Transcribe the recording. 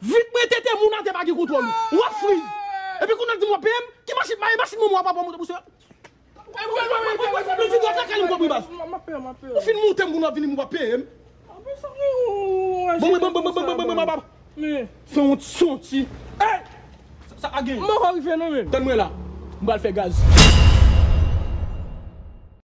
Vit mwen tete moun atè pa gen kontwòl ou wap friz epi kounya dim wap peyem ki machin bay machin manman wap wap monte pou sèl ou fin montem kounya wap vin dim wap peyem bon bon bon fè yon ti son ti sa agen tann mwen la m pral fè gaz.